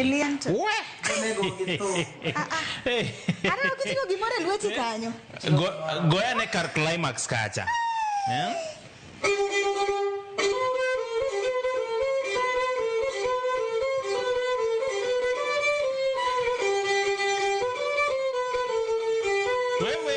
Eliento. Aneno kiting'o gimoro e lweti kanyo. Go- goyane kar climax kacha Eh? Wewe.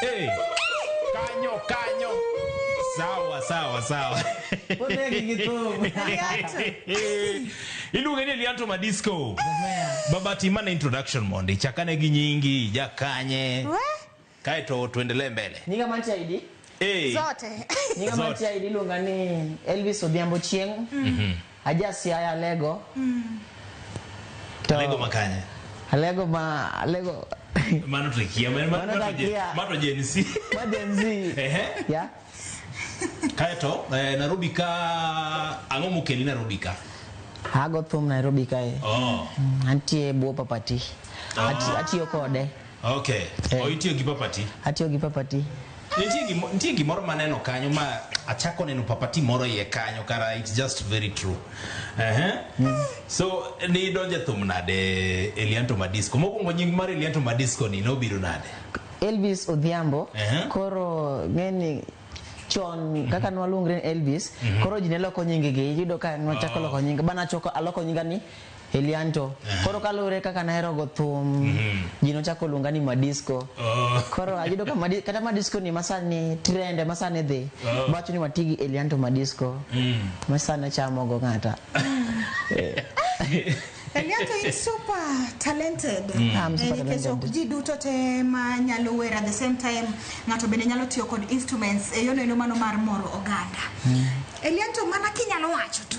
hey. kanyo kanyo sawa sawa sawa Onegi gi thum. iluonge ni elianto madisco baba timane introduction mondi chakane gi nyingi jakanye kaeto tuendelee mbele Nyinga mantie ID. hey. zote Nyinga Zote. mantie ID iluonga ni Elvis Odhiambo Chieng'. Aja Siaya Alego. To Alego makanye. Alego ma Alego Mano tukia, mano Mano mano je- takia. mano Gen Z. ma Gen Z. Ehe. Yeah. Kaeto eh, Nairobi ka ang'o mokeli Nairobi ka? Ago thum Nairobi kae. Oh. Antie bwo papati. Ati- Atiyo kode. Okay. Eh. Oh, itiyo gi papati. Atiyo gi papati. Nitie gimo- nitie gimoro maneno kanyo ma achako neno papati moro iye kanyo kara it's just very true. Ehe. So ni donje thum nade Elianto Madisco. Mokwongo nying mar Elianto Madisco ni nobiro nade? Elvis Odhiambo Ehe. koro ng'eni chon kaka nwaluongre ni Elvis koro ji ne loko nyingegi iyudo ka nwachako loko nyinga bana choko aloko nyinga ni Elianto. Koro kaluwore kaka naherogo thum, ji nochako luonga ni Madisco. Oh. Koro ayudo ka madi, kata Madisco ni masani trend ema sani dhi. Oh. Bawacho ni wati gi Elianto Madisco. Mm. Ma sani chamogo ng'ata. Elianto in super talented. I'm super Eh, nikech talented. ok ji duto te ma nyalo wer at the same time ng'ato bende nyalo tiyo kod instruments e yono eno mano mar moro oganda. Elianto mana kinyalo wacho tu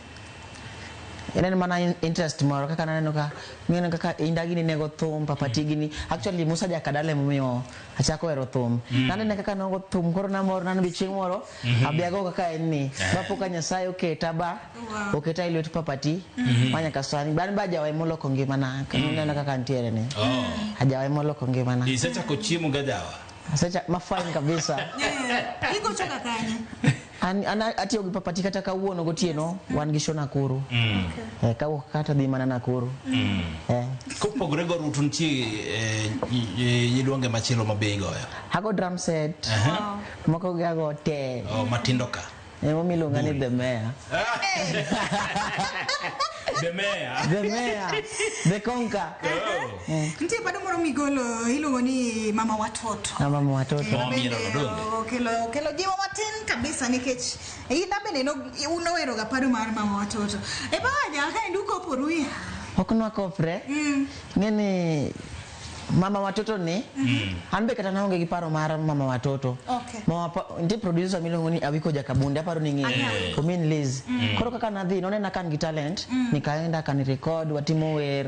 Ineno mana in- interest moro kaka naneno ka ng'eno kaka indagi ni nego thum papati gini actually Musa Jakadala emomiyo achako hero thum nanene kaka nogo thum koro namor nano bi chieng' moro abiago kaka en ni bapoka Nyasaye oketa ba oketa e lwet papati ma nyaka sani bani ba jawa emoloko ngimana naneno kaka ntiere ni Oh. ajawa emoloko ngimana Isechako chiemo gajawa. Asecha- mafine kabisa Igochoka kanye? An, an atiyo gi papati kata kawuono gotieno wan gi show Nakuru. Mm. Eh, kawuok kata dhi mana Nakuru. Mm. Eh. Kopogore go rutu nitie eh, yidwonge machielo ma bei goyo. Hago drum set. Uh -huh. Moko gi hago te. Oh, matindo ka. Eh, mami lunga ni the mayor. the mayor. the mayor. The conquer. Oh. Eh. Nitie bado moro migolo iluongo ni mama watoto. Na mama watoto. Eh, Mama bende, Mielo Rodonde. o- Kelo kelo jiwo matin kabisa nikech ina bende no uno wero ga paro mar mama watoto. E baja ka ndu ko poruya. Ok nwakopre. Mm. Ng'e ni mama watoto ni an be kata naonge gi paro mar mama watoto Okay. mama pa, nitie producer miluongo ni awiko jakabunde aparo ni ng'eyo omin liz koro kaka nadhi nonena kan gi talent nikaenda kanirekod watimo wer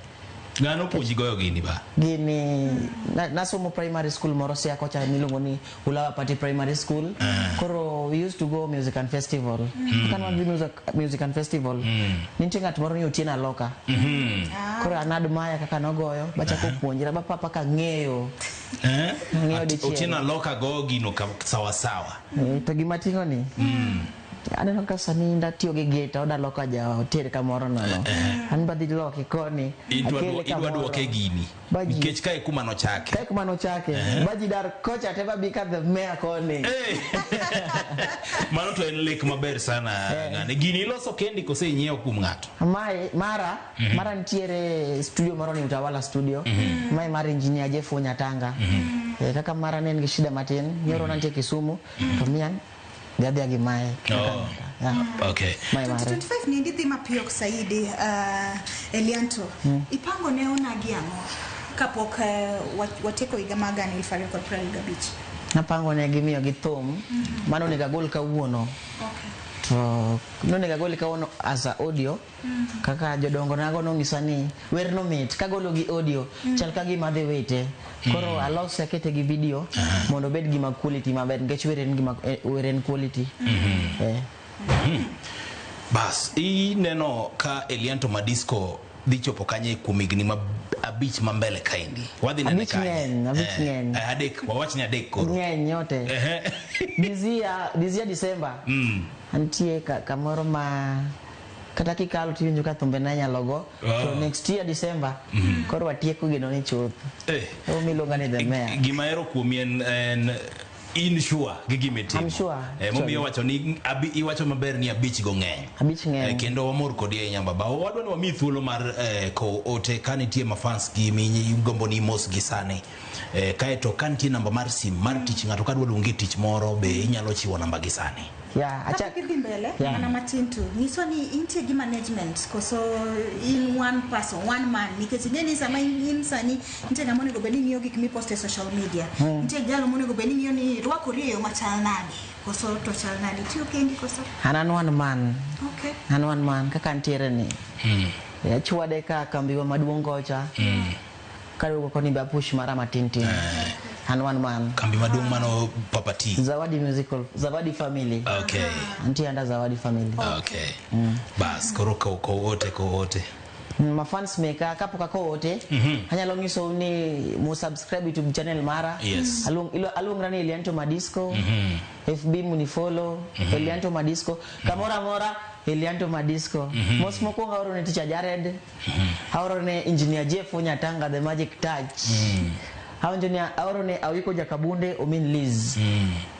Ng'ano puonji goyo gini ba? Gini na, nasomo primary school moro sia kocha miluongo ni Ulawa Party Primary School. Uh. Koro we used to go music and festival. Mm. Kan wan music, music and festival. Mm. Nitie ng'at moro ni Otieno Aloka. Mm -hmm. ah. Koro an admire kaka nogoyo bachako uh -huh. puonjra ba papa ka ng'eyo. Eh? Ng'eyo dichiel. Otieno Aloka goyo gino sawa sawa. Eh, to gima ting'o ni. Mm. aneno ka sani ndatiyo gi gita odaloka ja oter kamoro nono an badhi loki koni Idwa akele dwo- idwa kamoro. dwoke gini Baji. nikech kae kuma nochake kae kuma nochake baji dar kocha te babi ka the mayor koni Eh. mano to en lek maber sana ng'ani gini iloso kendi kose inyiewo kuom ng'ato Mae, mara mara nitiere studio moro ni utawala studio mae mar engineer jeff onyatanga Eh, kaka mara ne en gi shida matin nyoro nantie kisumu to mian Gadhia gi mae. Oh. Yeah. Okay. Mae mare. 2025 ni ndidhi mapiyo saidi uh, Elianto ipango ne onagi ang'o kapok uh, wa- watieko higa mar gana elfu ariyo kod piero ariyo gabich Napango ne gimiyo gi thum. Mano onego agol kawuono. okay. To nonego agol kawuono as a audio. Kaka jodongo nago nong'isa ni wer no mit kagolo gi audio mm. chal ka gima adhi wite koro mm. alose akete gi video mondo obed gima quality maber nikech wer en gima eh, wer en quality mm-hmm. eh. mm-hmm. bas ineno ka Elianto Madisco dhi chopo kanye kuom higni ma abich ma mbele kaendi wadhi nene kanye abich eh, ng'eny eh, adek wawach ni adek koro ng'eny nyote dizia dizia December mm. antie kamoro ma kata kikalo tiwinjo ka thumbe na nyalo go oh. to next year December mm -hmm. koro watieko gino ni chuth eh. Hey. miluonga ni the mayor gima ero kuomi en, en in sure gi gima itimo I'm sure eh, momiyo wacho ni abi, iwacho maber ni abich go ng'eny abich ng'eny eh, kendo wamor kodi ahinya baba wadwa ni wami thuolo mar eh, ko ote ka nitie mafans gi mi gombo ni mos gi sani Eh, kae to ka nitie namba mar sim mar tich ng'ato ka dwa luongi e tich moro be inyalo chiwo namba gi sani Yeah, acha- Kapok idhi mbele Yeah. mana matin tu nyiso ni intie gi management koso in one person one man nikech ing'e ni sama in in sani nitie ng'ama onego bed ni ng'iyo gik mipost e social media Mm. nitie jalo monego bed ni ng'iyo ni rwakori e yo machal nade koso to chal nade tiyo kendi koso an an one man okay an one man kaka ntiere ni achwade ka kambiwa maduong' kocha Kare wuok oko ni be apush mara matin tin. An wan man. Kambi maduong' mano Papa T. Zawadi Musical, Zawadi Family. Okay. Antie under Zawadi Family. Okay. Bas, koro ko ko wote ko wote. Mm, Mafans meka kapok ako ote, anyalo nyisou ni mu subscribe YouTube channel mara. Yes. Aluong- ilo- Aluongra ni Elianto Madisco. FB munifollow, Elianto Madisco. Kamora mora, Elianto Madisco. Mos mokwongo aoro ni Ticha Jared. aorone engineer Jeff Onyatanga the magic touch aonjo ni aorone awiko jakabunde omin Liz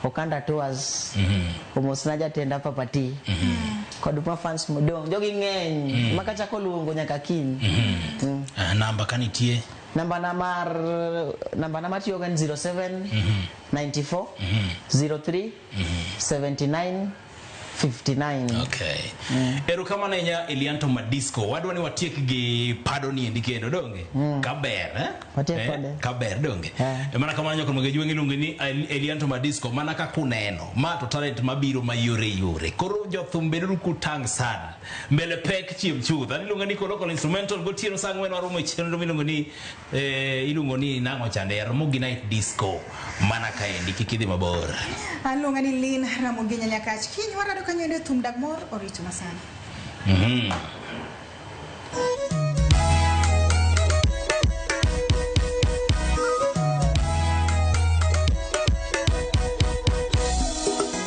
Okanda Tours omosna jatenda papati kod mafans modong' jogi ng'eny ma kachako luongo nyaka kiny Mm. Ah, namba ka nitie namba na mar namba na matiyogo en 07 94 03 79 59 Okay. Erokamano ahinya Elianto Madisco. Wadwa ni watiek gi pado ni endi kendo donge? Kaber eh? Watiek kode. Kaber donge? Eh. E mana kamano nyakon mage jwengi lungi ni El- Elianto Madisco mana ka kuneno. Ma to talent mabiro mayore yore. Koro jothum beduru kutang' sana. Mbele pek chiem chuth. Ani lunga ni koro kolo instrumental gotieno saa ng'wen waromo e chenro miluongo ni Eh, iluongo ni nang'o chande ya Ramogi Night Disco mana kaendi kik idhi mabor. Aluonga ni Lin Ramogi Nyanyakach. Kiny warado kanyo ende thum dag mor orito masana. Mhm.